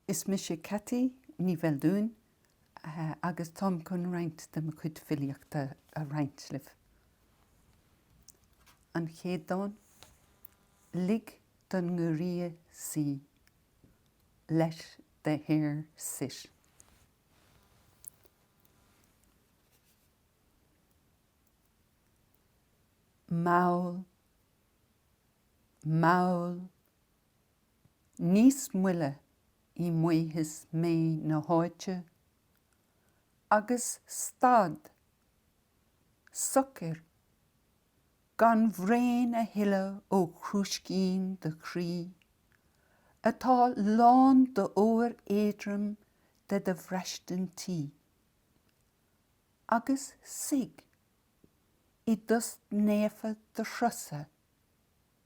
Is mise Ceaití Ní Bheildiúin agus táim chun roinnt de mo chuid filíochta a roinnt libh. An chéad dán, Lig don ngiorria suí, Let the hare sit. Mall, mall Níos moille i maothas méith na háite, agus stad socair, gan bhraon a shileadh ó chrúiscín do chroí, atá lán d'ór éadrom de do bhraistintí, agus suigh i dtost naofa do chrosa.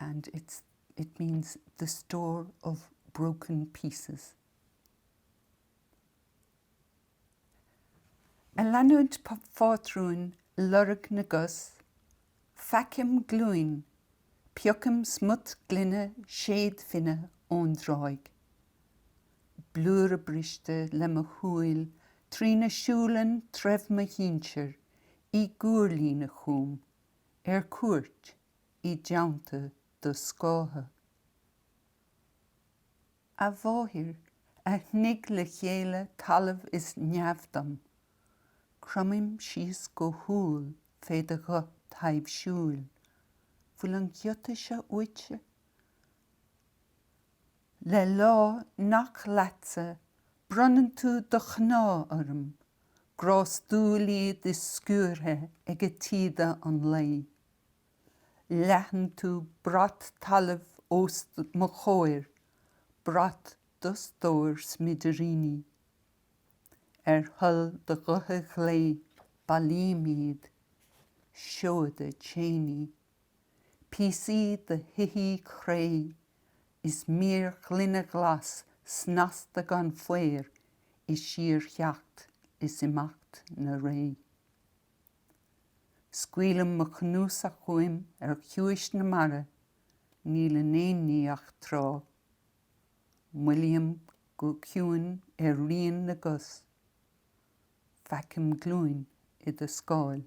and it's, it means the store of broken pieces. Ag leanúint phátrún lorg na gcos, feicim glúin, piocaim smut gloine séadfhinne ón dtráigh. Blúire briste le mo shúil trína siúlann treibh mo shinsir i gcuarlíne chugam, ar cuairt, i dteannta do scátha. A mháthair, a shnigh le chéile talamh is neamh dom, cromaim síos go humhal fé do ghuth taibhsiúil, bhfuil an giota seo uaitse? Le lámha nach leatsa, bronnann tú do chnámha orm, grástúil iad is sciúrtha ag taoide an lae. Leathann tú brat talaimh os mo chomhair, brat do stóir smidiríní. Ar thoil do ghutha ghlé bailím iad, seoda chaney, píosaí de shoithí cré is mír ghloine ghlas snasta gan faor i síortheacht is imeacht na ré. Scaoilim mo chnuasach uaim ar chiumhais na mara, níl in aon ní ach trá. Moillím go ciúin ar rian na gcos. Feicim glúin i do scáil.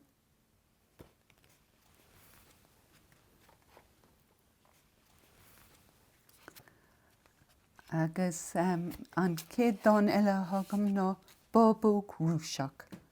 Agus an chéad dán eile atá agam ná Bábóg Rúiseach.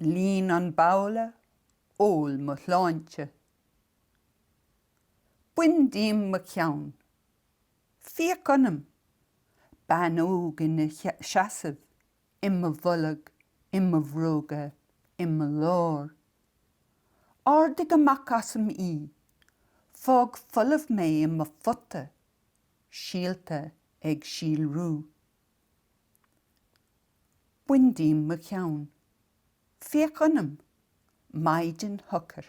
Líon an babhla, ól mo shláinte. Bain díom mo cheann. Féach ionam. Bean óg ina seasamh i mo bholg, i mo bhróga, i mo lár. Ardaigh amach asam í. Fág folamh mé i mo phota, síolta ag síolrú. Bain díom mo cheann. Féach ionam, maighdean shocair,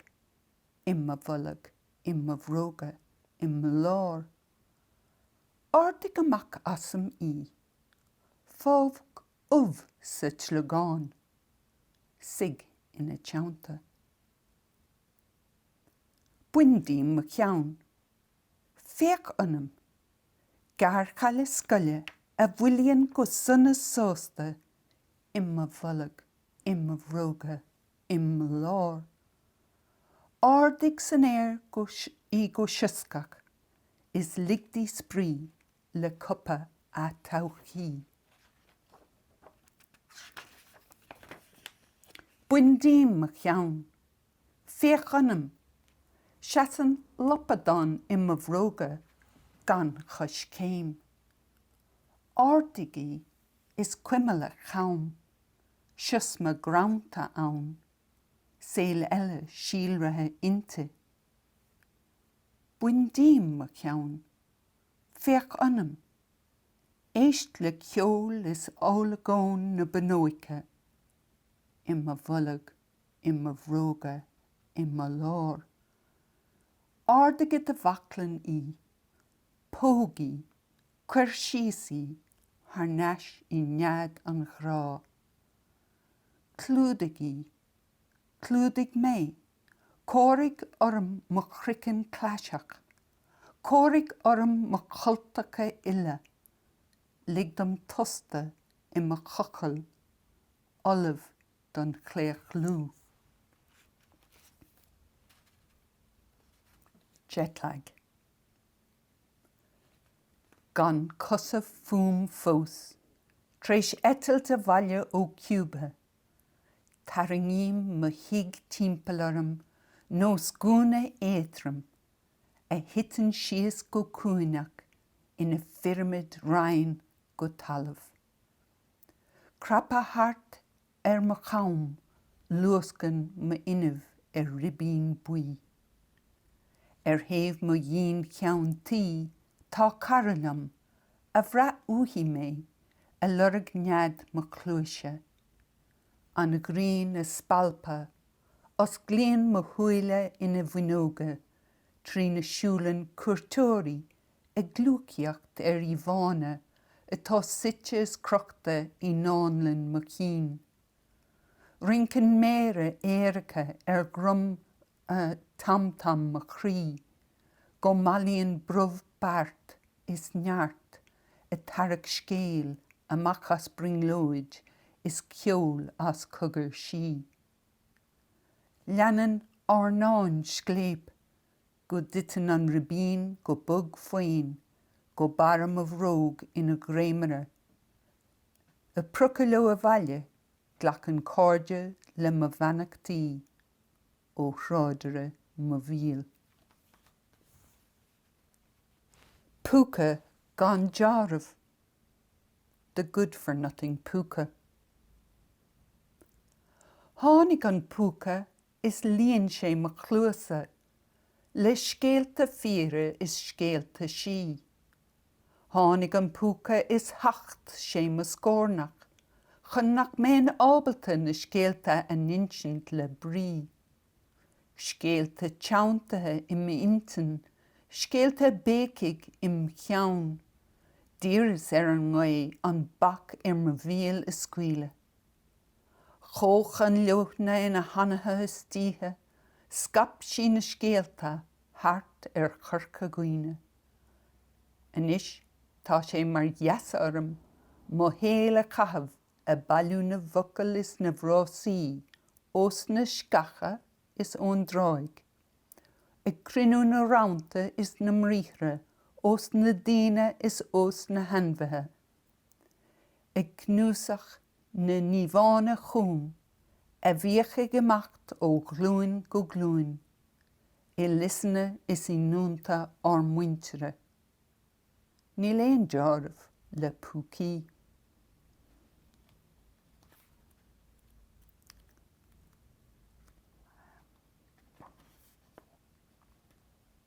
i mo bholg, i mo bhróga, i mo lár. Ardaigh amach asam í. Fág ubh sa tsliogán. Suigh ina teannta. Bain díom mo cheann. Féach ionam, gearrchaile scoile a mhoillíonn go sona sásta i mo bholg, i mo bhróga, i mo lár. Ardaigh san aer í go sioscach is lig di spraoi le cupa a todhchaí. Bain díom mo cheann. Féach ionam. Seasann lapadán i mo bhróga gan choiscéim. Ardaigh í is cuimil a com. Siosma greanta ann. Saol eile síolraithe inti. Bain díom mo cheann. Féach ionam. Éist le ceol is olagón na bunóice i mo bholg. i mo bhróga i mo lár. Ardaigh i do bhaclainn í, póg í, cuir síos í thar n-ais i nead an ghrá. Clúdaigh í. Clúdaigh mé. Cóirigh orm mo chroiceann claiseach. Cóirigh orm mo chultacha uile. Lig dom tostadh i mo chochall. ullamh don chlaochlú jetlag, gan cosa fúm fós, tar éis eitilt abhaile ó Cuba, tarraingím mo thigh timpeall orm nós gúna éadrom a thiteann síos go cúinneach ina phirimid righin go talamh. Craptha thart ar mo chom luascann m'fhuinneamh ar ribín buí. Ar thaobh mo dhín cheann tuí tá cara liom, a bhraith uaithi mé, ag lorg nead mo chluaise. An ghrian ag spalpadh, osclaíonn mo shúile ina bhfuinneoga trína siúlann cuairteoirí ag gliúcaíocht ar íomhánna atá suite is crochta i ndánlann mo chinn. Rinceann méara aeracha ar dhroim tam-tam mo chroí, go mbailíonn brobh beart is neart ag tarrac scéil amach as brionglóid is ceol as cogar sí. Leanann ár ndán scléip go dtiteann an ribín go bog faon go barr mo bhróg ina dhréimire. Ag priocadh leo abhaile, glacann cairde le mo bheannachtaí ó thráidire mo bhéil. Púca gan dealramh, the good-for-nothing púca. Tháinig an púca is líon sé mo chluasa le scéalta fíre is scéalta sí. Tháinig an púca is thacht sé mo scórnach chun nach mbeinn ábalta na scéalta a insint le brí. Scéalta teanntaithe i m'intinn, scéalta ag béicigh im cheann. D'iarras ar an ngaoth an bac ar mo bhéal a scaoileadh. Chuaigh an leoithne ina hanaithe istoíche, scaip sí na scéalta thart ar Chorca Dhuibhne. Anois tá sé mar gheasa orm mo shaol a chaitheamh ag bailiú na bhfocal is na bhfrásaí ós na sceacha is ón dtráigh, ag cruinniú na rann is na mbriathra ós na daoine is ós na hainmhithe. Ag cnuasach na n-íomhánna chugham a bhíodh ag imeacht ó ghlúin go glúin i liosanna is i ndúnta ár muintire, níl aon dealramh le púcaí.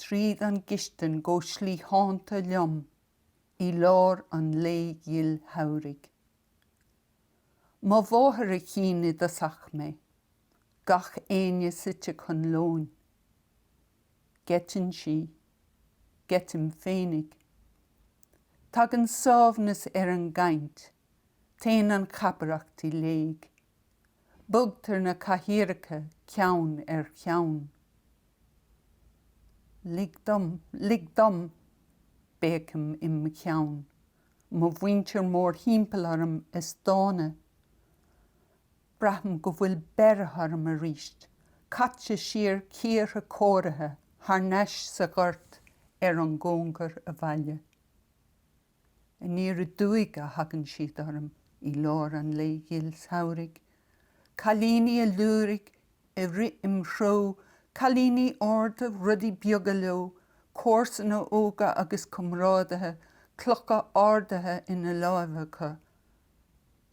tríd an gcistin go slítheánta liom i lár an lae ghil shamhraidh. Mo mháthair a chíonn i dtosach mé, gach éinne suite chun lóin. Geiteann sí. Geitim féinig. Tagann sámhnas ar an gcaint, téann an chabaireacht i léig. Bogtar na cathaoireacha ceann ar cheann. Lig dom, lig dom, béicim im' cheann, mo mhuintir mórthimpeall orm is dána. Braithim go bhfuil beirthe orm arís, caite siar cíortha cóirithe thar n-ais sa ghort ar an gcóngar abhaile. Aniar aduaidh a thagann siad orm i lár an lae ghil shamhraidh, cailíní ag liúirigh ag rith im' threo, cailíní arda, rudaí beaga leo, comharsana óga agus comrádaithe, clocha ardaithe ina láimh acu,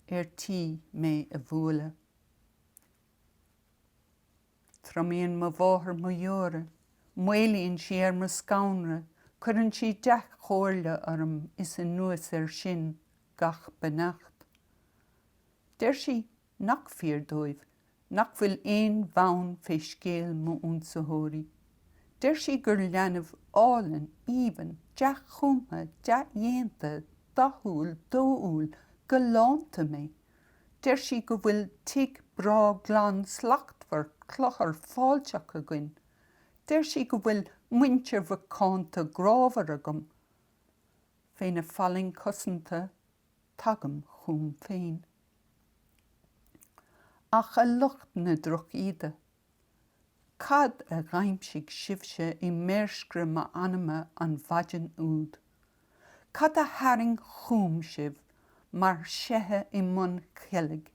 ar tí mé a bhualadh. Triomaíonn mo mháthair mo dheora, maolaíonn sí ar mo scanradh, cuireann sí dea-chomhairle orm is anuas air sin gach beannacht. Deir sí nach fíor dóibh nach bhfuil aon bhonn fé scéal m'ionsaitheoirí. Deir sí gur leanbh álainn, aoibhinn, dea-chumtha, dea-dhéanta, dathúil, dóúil, galánta mé. Deir sí go bhfuil tigh breá glan slachtmhar cluthar fáilteach againn. Deir sí go bhfuil muintir mhacánta grámhar agam. Féna fallaing chosanta tagaim chugam féin. Ach a lucht na drochíde. Cad a dh'aimsigh sibhse i méirscre m'anama an mhaidin úd? Cad a tharraing chúm sibh mar shaithe i mbun cheilg?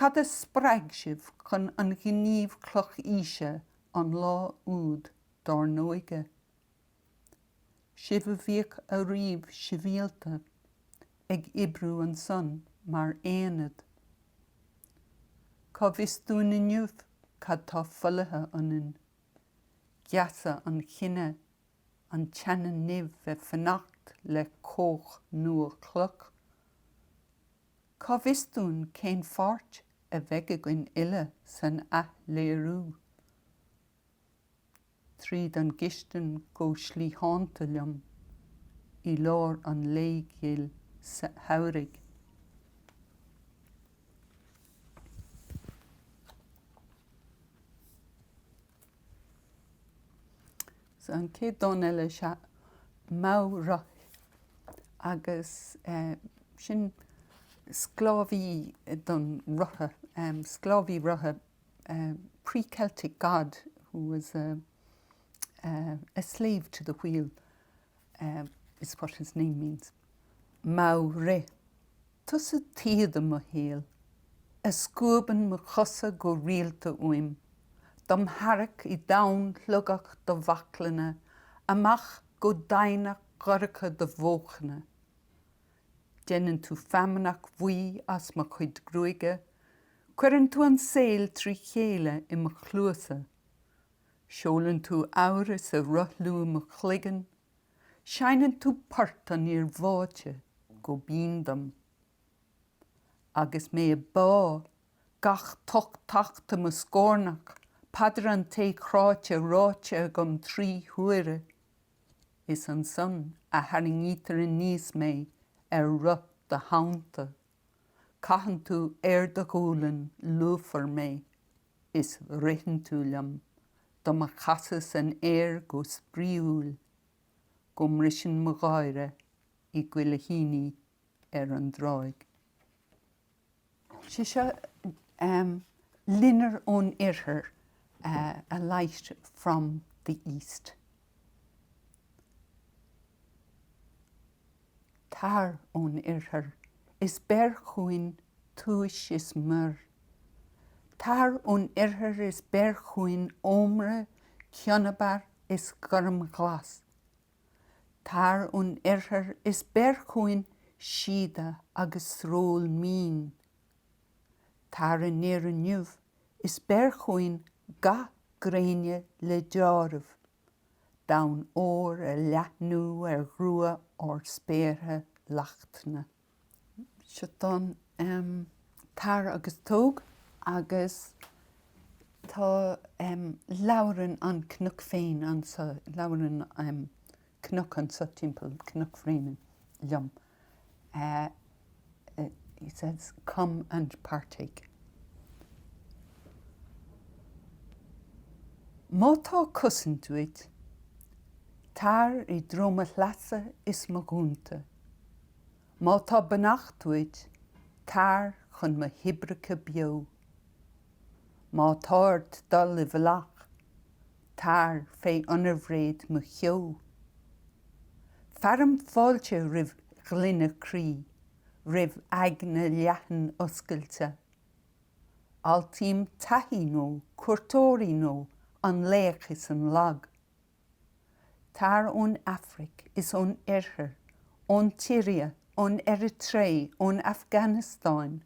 Cad a spreag sibh chun an ghníomh clochaoise an lá úd dár n-óige? sibh a bhíodh ariamh sibhialta ag oibriú ansan mar aonad. Cá bhfios dúinn inniu cad tá folaithe ionainn? Geasa an chine, an tseana-nimh ag fanacht le cóch nua chloch. Cá bhfios dúinn cén pháirt a bheidh againn uile san athléiriú? tríd an gcistin go slítheánta liom i lár an lae ghil shamhraidh. So an chéad dán eile is ea Maigh Rith agus eh, sin sclábhaí don roth, em, sclábhaí rotha pre-Celtic god who was a a slave to the wheel is what his name means. Maigh Rith. Tusa taoide mo shaoil, a scuabann mo chosa go rialta uaim, dom tharrac i dtonn shlogach do bhaclainne, amach go doimhneacht dhorcha do bhóchna. Déanann tú feamnach bhuí as mo chuid gruaige, Cuireann tú an saol trí chéile i mo chluasa. Seolann tú amhras ag rothlú im chloigeann. Seinneann tú port an fhir bháite go binn dom. Agus mé ag bá, gach tocht tachta im scórnach, paidir an té cráite ráite agam trí huaire, is ansan a tharraingítear aníos mé ar roth do Shamhanta. Caitheann tú ar do ghualainn lúfar mé is ritheann tú liom dom chasadh san aer go spraíúil go mbriseann mo gháire i gcuilithíní ar an dtráigh. Sé seo loinnir ón Oirthear, a light from the East. Tar ón oirthear is beir chugainn túis is miorr, Tar ón oirthear is beir chugainn ómra cionabar is gormghlas, Tar ón oirthear is beir chugainn síoda agus sról mín, Tar aniar inniu is beir chugainn gath gréine le dealramh. domhan óir a leathnú ar ghrua ard spéartha lachtna. Seo dán Tar agus Tóg agus tá labhrann an cnoc féin anso, labhrann cnoc anso timpeall, Cnoc Bhréanainn, liom. he says come and partake. Má tá cosaint uait, tar i dtreo mo shleasa is mo dhúnta, má tá beannacht uait, tar chun mo thoibreacha beo. Má tá ort dul i bhfolach, Tar fé ionarbhréid mo cheo. Fearaim fáilte roimh ghloine croí, roimh aigne leathan oscailte. Altaím taithí nua, cuairteoirí nua, an laoch is an lag. Tar ón Afraic is ón Oirthear, ón tSiria, ón Eiritré, ón Afganastáin,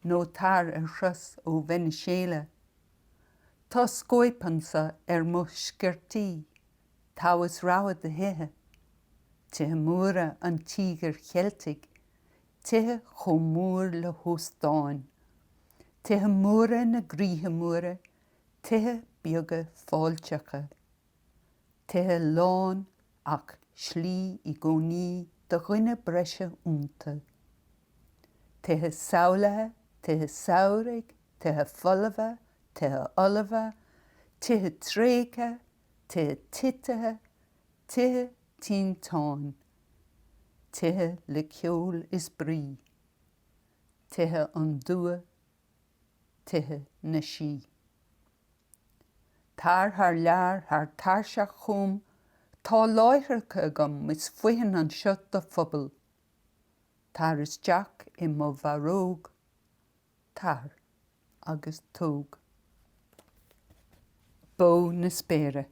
nó tar ar thuras ó Veiniséala. Tá scóip anso ar mo sciortaí, togha is rogha de thithe, tithe móra an Tíogair Cheiltigh, tithe chomh mór le hóstáin, tithe móra na gcroíthe móra, tithe beaga fáilteacha. tithe lán ach slí i gcónaí do dhuine breise iontu, tithe samhlaithe, tithe samhraidh, tithe folmha, tithe ullmha, tithe tréigthe, tithe titithe, tithe tinteáin, tithe le ceol is brí, tithe an dua, tithe na sí. Tar thar lear, thar tairseach chugam, tá láithreacha agam is foithin anseo do phobal. Tar isteach i mo bharróg, tar agus tóg bó na spéire,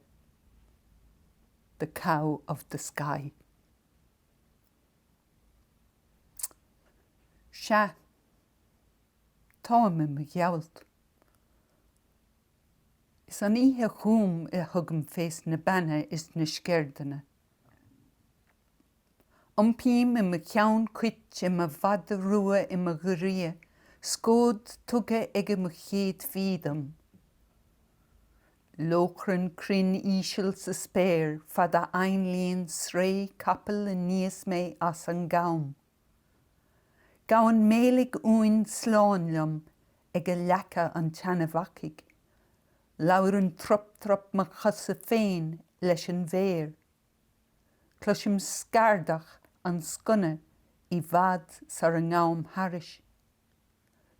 the cow of the sky. Sea. Táim i mo ghealt. Is an oíche chúm a thugaim fé sna beanna is na sceirdeanna. Iompaím i mo cheann cuit i mo mhada rua i mo ghiorria scód tugtha aige mo chéadfaí dom. Lóchrann cruinn íseal sa spéir fad a ainlíonn sraoth capaill aníos mé as an gcom. Gabhann méiligh uain slán liom aige leaca an tseanabhacaigh. Labhrann trup trup mo chosa féin leis an bhféar. Cloisim scardach an sconna i bhfad sara ngabhaim thairis.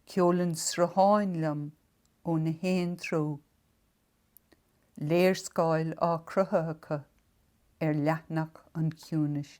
Ceolann srutháin liom ó na haon treo. Léarscáil á croitheadh acu ar leathanach an chiúnais.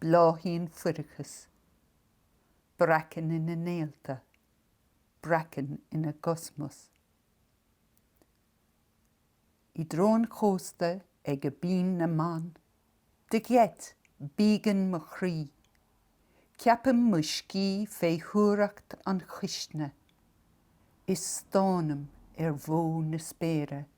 Bláthaíonn fuireachas. Breacann ina néalta. Breacann ina gcosmas. I dtreo an chósta aige Binn na mBan. De gheit, bíogann mo chroí. Ceapaim mo scíth féithuaireacht an chuisne. Is stánaim ar bhogha na spéire.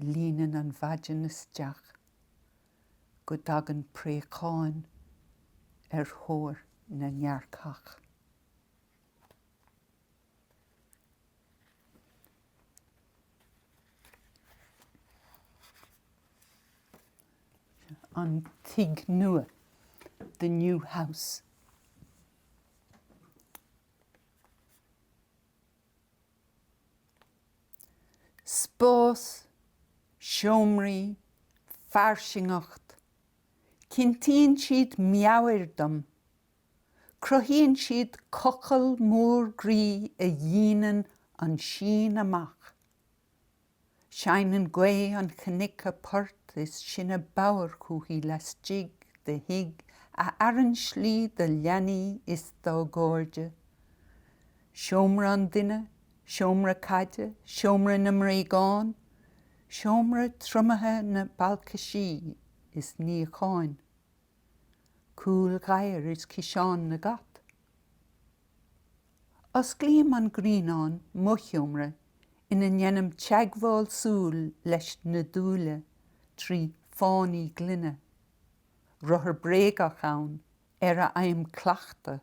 Líonann an mhaidin isteach go dtagann préacháin ar thóir na ngearrcach. An tigh nua, the new house. Spás, seomraí, fairsingeacht, cinntíonn siad meabhair dom, cruthaíonn siad cochall mór groí a dhíonann an síon amach. Seinneann gaoth an chnoic a port is sinne bodhar chúithi laistigh de thigh a fhearann slí do leanaí is dá gcairde. Seomra an duine, seomra caide, seomra na mbréagán, seomra triomaithe na balcaisí is níocháin. Cúil ghadhair is ciseán na gcat. Osclaím an Grianán, mo sheomra ina ndéanaim teagmháil súl leis na dúile trí phánaí gloine. Rothar bréagach ann ar a fhaighim cleachtadh.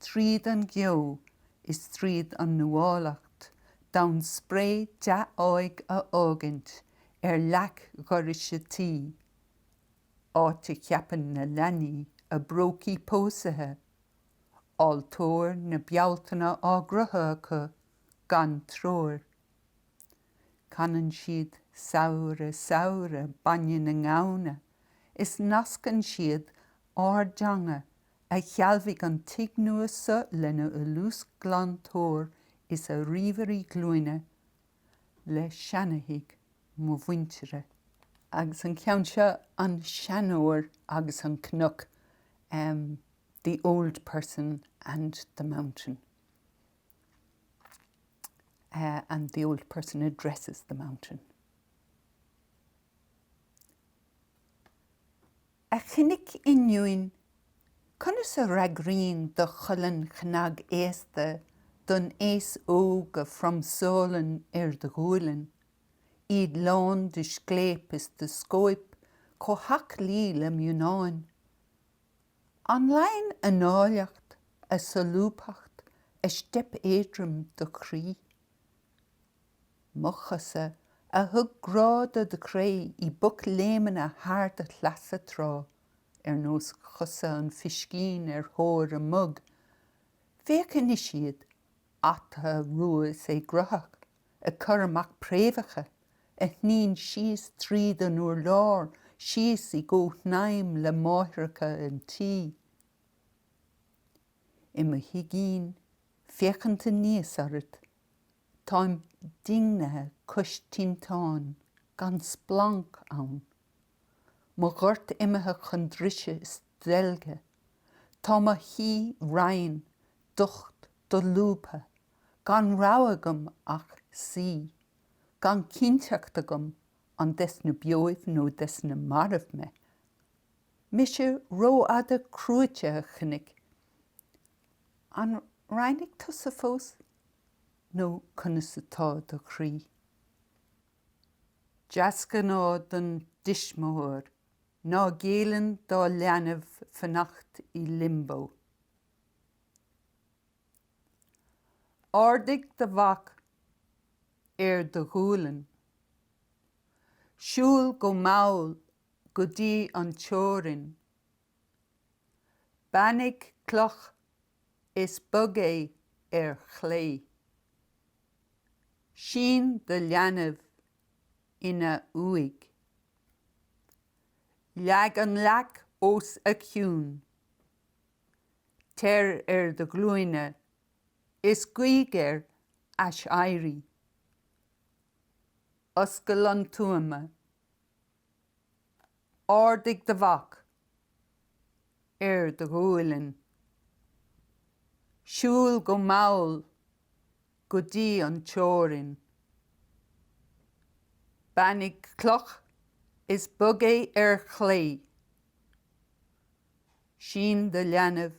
Tríd an gceo is tríd an nuálacht, d'fhonn spré dea-áidh a fhágaint ar leac dhorais an tí, áit a cheapann na leanaí a bprócaí pósaetha, altóir na Bealtaine á gcruthú acu gan treoir, canann siad Samhradh Samhradh bainne na nGamhna is nascann siad ár dteanga a shealbhaigh an tigh nua so lena fholúsghlantóir is a ríomhairí glúine le seanathigh mo mhuintire. Agus an ceann seo, An Seanóir agus an Cnoc, The Old Person and the Mountain, and the Old Person Addresses the Mountain. A chnoic ionúin, conas a fhreagraíonn do cholainn chnagaosta don aos óg a phromsálann ar do ghualainn, iad lán de scléip is de scóip chomh haclaí le mionnáin? An leánn a n-áilleacht, a solúbthacht, a steip éadrom do chroí? Mo chosa, a thug grá do do chré i bpocléimeanna thar do shleasa tráth, ar nós chosa an phiscín ar thóir a mug. Féach anois iad, ata rua is éagruthach, ag cur amach préamhacha a shníonn síos tríd an urlár síos i gcomhshnaidhm le máithreacha an tí. I mo thigín, féachaint aníos ort. Táim dingthe cois tinteáin, gan splanc ann. Mo ghort imithe chun drise is deilge. Tá mo chlí righin, docht, dolúbtha, gan rogha agam ach suí, gan cinnteacht agam an des na beoibh nó des na mairbh mé. Mise rófhada cruaite a chnoic. An righnigh tusa fós nó conas atá do chroí? Deasghnáth don dtuismitheoir ná géilleann dá leanbh fanacht i Limbo. Ardaigh do mhac ar do ghualainn. Siúil go mall go dtí an teorainn. Beannaigh cloch is bog é ar chlé. Sín do leanbh ina uaigh. Leag an leac os a chionn. Teir ar do ghlúine is guigh air aiséirí. Oscail an tuama. Ardaigh do mhac ar do ghualainn. Siúil go mall go dtí an teorainn. Beannaigh cloch is bog é ar chlé. Sín do leanbh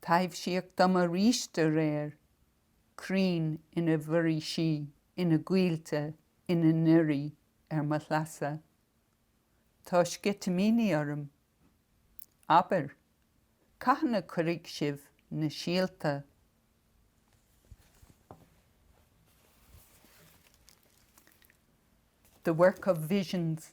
Taibhsíodh dom aríst aréir, crainn ina bhforaoisí, ina gcoillte, ina ndoirí, ar mo shleasa. Tá sceitimíní orm. Abair, cathain a chuirfidh sibh na síolta? The work of visions.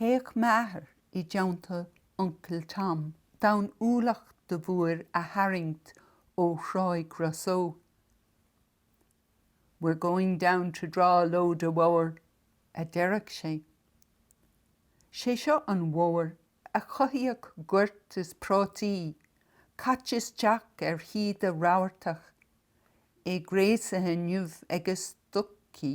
Théadh m'athair i dteannta Uncail Tom d'fhonn ualach de woar a tharraingt ó Thráigh Ros Eo. We're going down to draw a load of woar, a deireadh sé. Sé seo an woar a chothaíodh goirt is prátaí caite isteach ar thaoide rabhartach, é gréasaithe inniu ag a stocaí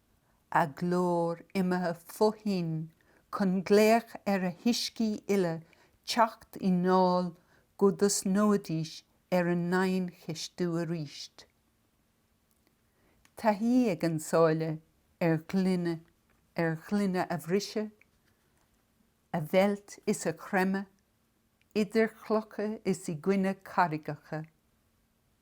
a glór imithe fó thoinn chun glaoch ar a huiscí uile teacht i ndáil go dtosnóidís ar a ndiancheistiú aríst. Taithí ag an sáile ar ghloine a bhriseadh, a mheilt is a chreimeadh idir chlocha is i gcoinne carraigeacha.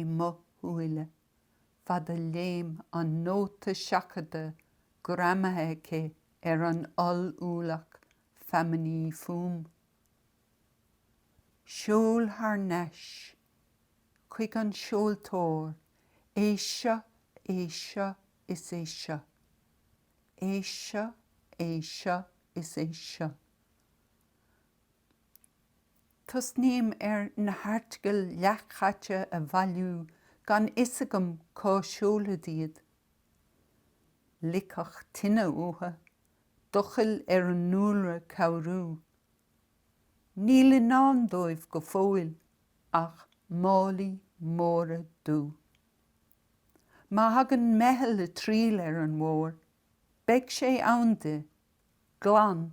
I mo shúile fad a léim an nóta seachadta greamaithe aici ar an oll-ualach feamainní fúm. Seol thar n-ais chuig an seoltóir é seo, é seo is é seo. É seo, é seo is é seo. Tosnaím ar na hairteagail leathchaite a bhailiú gan fhios agam cá seolfad iad. Loicfeadh tine uathu, doicheall ar an ndúlra cabhrú. Níl i ndán dóibh go fóill ach málaí móra dubha. Má thagann meitheal ag triall ar an woar, beidh sé ann di, glan